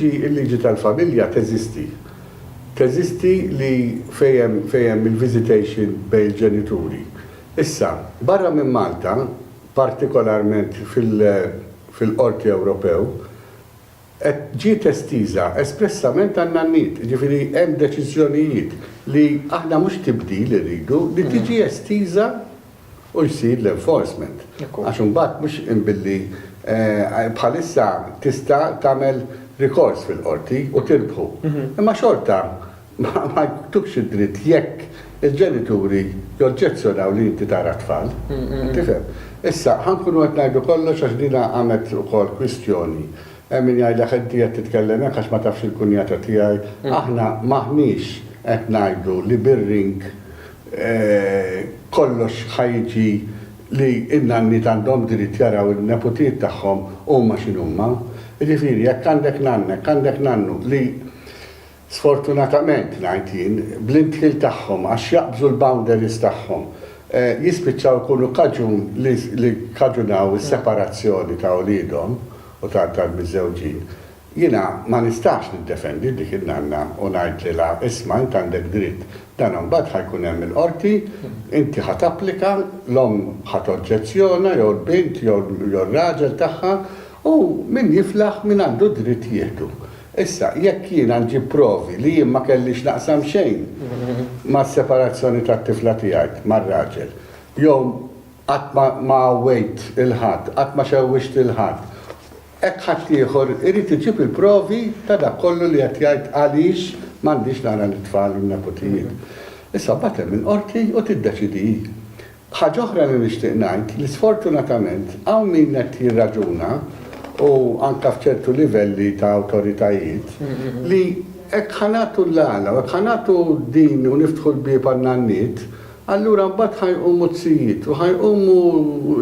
Il-liġi tal-familja teżisti. Teżisti li fejn hemm il-visitation bejn il-ġenituri. Issa, barra minn Malta, partikolarment fil-Qorti Ewropew, ġiet estiża espressament għan-nanniet. Jiġifieri hemm deċiżjonijiet li aħna mhux tibdil irridu, li tiġi estiża u jsir l-enforcement. Għax imbagħad mhux billi bħalissa tista' tagħmel rikors fil-qorti u tirbħu. Imma xorta ma jtukx id-dritt jekk il-ġenituri joġġezzjonaw li inti tara t-tfal. Tifhem? Issa, ħa nkunu qed ngħidu kollox għax din qamet ukoll kwistjoni. Hemm min jgħidlek inti qed titkellem hekk għax ma tafx il-kunjata tiegħi. Aħna m'aħniex qed ngħidu li bir-ring kollox ħa jiġi li n-nanniet għandhom dritt jaraw in-neputiet tagħhom huma x'inhuma. Jiġifieri jekk għandek nanna, jekk għandek nannu li sfortunatament ngħid jien, bl-indħil tagħhom għax jaqbżu l-boundaries tagħhom, jispiċċaw ikunu kaġun li kkaġunaw is-separazzjoni ta' uliedhom u tal-miżżewġin, Jiena ma nistax niddefendi dik in-nanna u ngħidlilha, isma' int għandek dritt, dan imbagħad ħa jkun hemm il-qorti, inti ħa tapplika, l-omm ħa toġġezzjona jew l-bint jew r-raġel tagħha u min jiflaħ min għandu d-dritt jieħdu. Issa, jekk jiena nġib provi li jien ma kellix naqsam xejn mas-separazzjoni tat-tifla tiegħi mar-raġel jew qatt ma għawwejt lil ħadd, qatt ma xewwixt lil ħadd, Hekk ħaddieħor irid iġib il-provi ta' dak kollu li qed jgħid għaliex m'għandix nara lit-tfal u n-neputijiet. Issa mbagħad hemm il-Qorti u tiddeċidi hi. Ħaġa oħra li nixtieq ngħid li sfortunatament hawn min qed jirraġuna u anke f'ċertu livelli ta' awtoritajiet li hekk ħa nagħtu l-għala u hekk ħa nagħtu din u niftħu l-bieb għan-nanniet, Allura mbagħad ħa jqumu t-sijiet, u ħa jqumu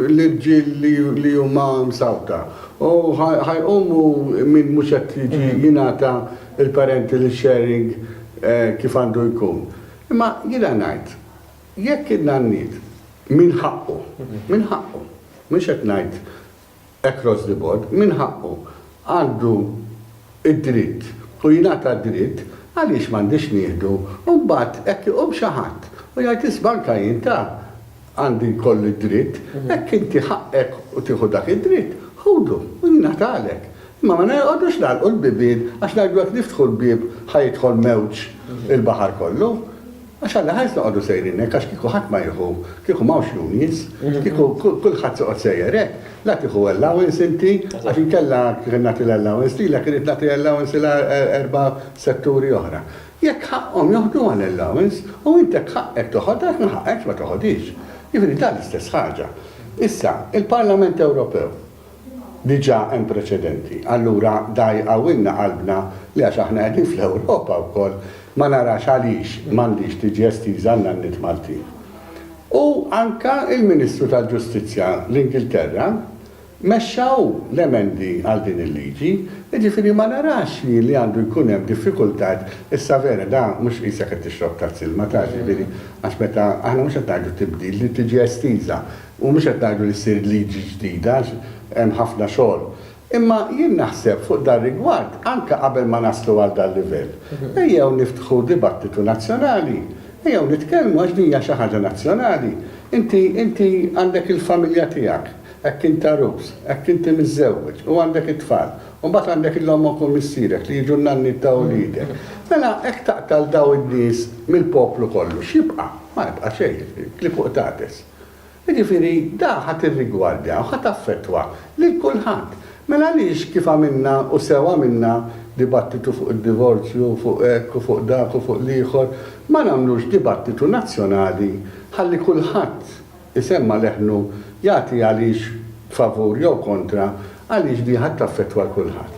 l-irġiel li huma msawta, u ħa jqumu min mhux qed jiġi jingħata l-parental sharing kif għandu jkun. Imma jiena ngħid, jekk in-nanniet minn ħaqqu, minn ħaqqu, mhux qed ngħid across the board, min ħaqqu, għandu d-dritt u jingħata d-dritt, għaliex m'għandiex nieħdu u mbagħad hekk iqum xi ħadd u jgħid isma' anke jien ta' għandi jkolli d-dritt, hekk inti ħaqqek u tieħu dak id-dritt, ħudu u jingħatalek. Imma ma noqogħdux nagħlqu l-bibien għax ngħidu jekk niftħu l-bieb ħa jidħol mewġ il-baħar kollu. Għax alla ħares noqogħdu sejrin hekk għax kieku ħadd ma jieħu, kieku m'hawnx unions, kieku kulħadd toqgħod sejjer hekk, la tieħu allowance inti għax inkella kien nagħti l-allowance lilek irrid nagħti allowance lil erba' setturi oħra. Jekk ħaqqhom joħduha l-allowance u inti jekk ħaqqek toħodha jekk ma ħaqqekx ma toħodhiex. Jiġifieri dan l-istess ħaġa. Issa, il-Parlament Ewropew Diġà hemm preċedenti. Allura dgħajqawilna qalbna li għax aħna qegħdin fl-Ewropa wkoll ma narax għaliex m'għandhiex tiġi estiża għan-nanniet Maltin. U anke l-Ministru tal-Ġustizzja l-Ingilterra mexxa hu l-emendi għal din il-liġi, jiġifieri ma narax jien li għandu jkun hemm diffikultajiet issa vera da mhux qisek qed tixrob tazz ilma ta' ġifieri għax meta aħna mhux qed ngħidu tibdil li tiġi estiża U mhux qed ngħidu li ssir liġi ġdida għax hemm ħafna xogħol. Imma jien naħseb fuq dar-rigward anke qabel ma naslu għal dal-livell, ejjew niftħu dibattitu nazzjonali, ejjew nitkellmu għax din hija xi ħaġa nazzjonali. Inti, inti għandek il-familja tiegħek, hekk int għarus, hekk inti miżżewweġ u għandek it-tfal, u mbagħad għandek il-ommok u missierek li jiġu n-nanniet ta' uliedek. Mela hekk taqta' 'l dawn in-nies mill-poplu kollu, x'jibqa'? Ma jibqa' xejn, klipuqtates. Jiġifieri, da ħa tirrigwardja u ħa taffettwa lil kulħadd. Mela għaliex kif għamilna, u sew għamilna, dibattitu fuq id-divorzju u fuq hekk u fuq dak u fuq l-ieħor, ma nagħmlux dibattitu nazzjonali ħalli kulħadd isemma' leħnu jagħti għaliex favur jew kontra għaliex di ħa taffettwa 'l kulħadd.